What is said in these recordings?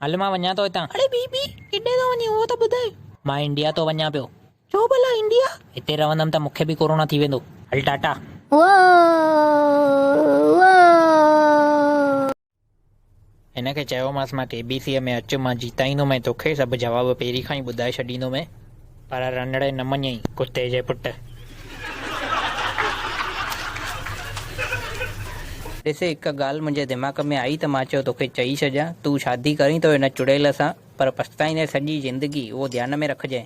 هل مان وڃان ٿو هتان. اڙي بي بي! ڪيڏانهن ٿو وڃين اهو ته ٻڌاء. مان انڊيا ٿو وڃان پيو. ڇو ڀلا انڊيا؟ هتي رهندم ته مون کي به ڪورونا ٿي ويندو. هل ٽاٽا. واء واء. هن کي چيومانس مان ڪي بي سيء ۾ اچ مان جيتائيندومئين توکي سڀ جواب پهرين کان ئي ٻڌائي ڇڏيندومئين. پر رنڙي نه مڃيئي. ڪتي جي پٽ. ڏس هڪ ڳالهه منهنجي دماغ ۾ آئي ته مان چيو توکي چئي ڇڏيان تون شادي ڪرين ته هن چڙيل سان پر پڇتائيندين سڄي زندگي اهو ڌيان ۾ رکجئين.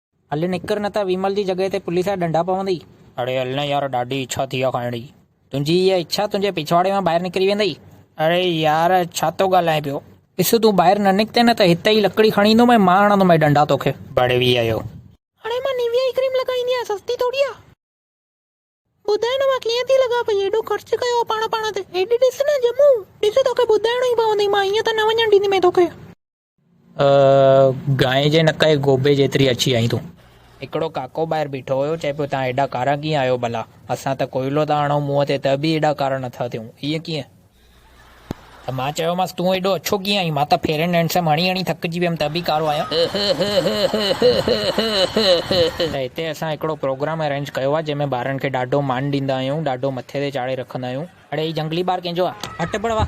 هل نڪر نه ته ويمل جي جڳهه تي پوليس جا ڏنڊا پوندئي. اڙي هل نه يار ڏاڍي اڇا ٿي آ کائڻ جي. تنهنجي اها اڇا تنهنجي پڇواڙي مان ٻاهر نڪري ويندئي. اڙي يار ڇا ٿو ڳالهائين پيو. ڏس تون ٻاهر نه نڪتين نه ته هت ئي لڪڙي کڻي ايندو مئي مان هڻندو مئي ڏنڊا توکي. بڙي وي اهو. هاڻي مان نيويا ئي ڪريم لڳائي ايندي آهيان سستي ٿوري آ. ٻڌاء نه مان ڪيئن ٿي لڳا پئي ايڏو خرچ ڪيو آ پاڻ پاڻ تي. هيڏ ڏس نه ڄمون. ڏس توکي ٻڌائڻو ئي پوندئي مان هيئن ته نه وڃڻ ڏيندي مئي توکي. گانء جي نڪ ۽ گوبي جيتري اچي آئين تون. هڪڙو ڪاڪو ٻاهر بيٺو هيو، چئي پيو، توهان ايڏا ڪارا ڪيئن آهيو ڀلا؟ اسان ته ڪوئلو ٿا هڻون منهن تي ته به ايڏا ڪارا نٿا ٿيون، ائين ڪيئن؟ ته مان چيومانس، تون ايڏو اڇو ڪيئن آهين؟ مان ته فيئر اينڊ هينڊسم هڻي هڻي ٿڪجي ويم ته به ڪارو آهيان. ته هتي اسان هڪڙو پروگرام ارينج ڪيو آهي، جنهن ۾ ٻارن کي ڏاڍو مان ڏيندا آهيون، ڏاڍو مٿي تي چاڙهي رکندا آهيون. اڙي هي جهنگلي ٻار ڪنهن جو آ؟ هٽ بڙوا!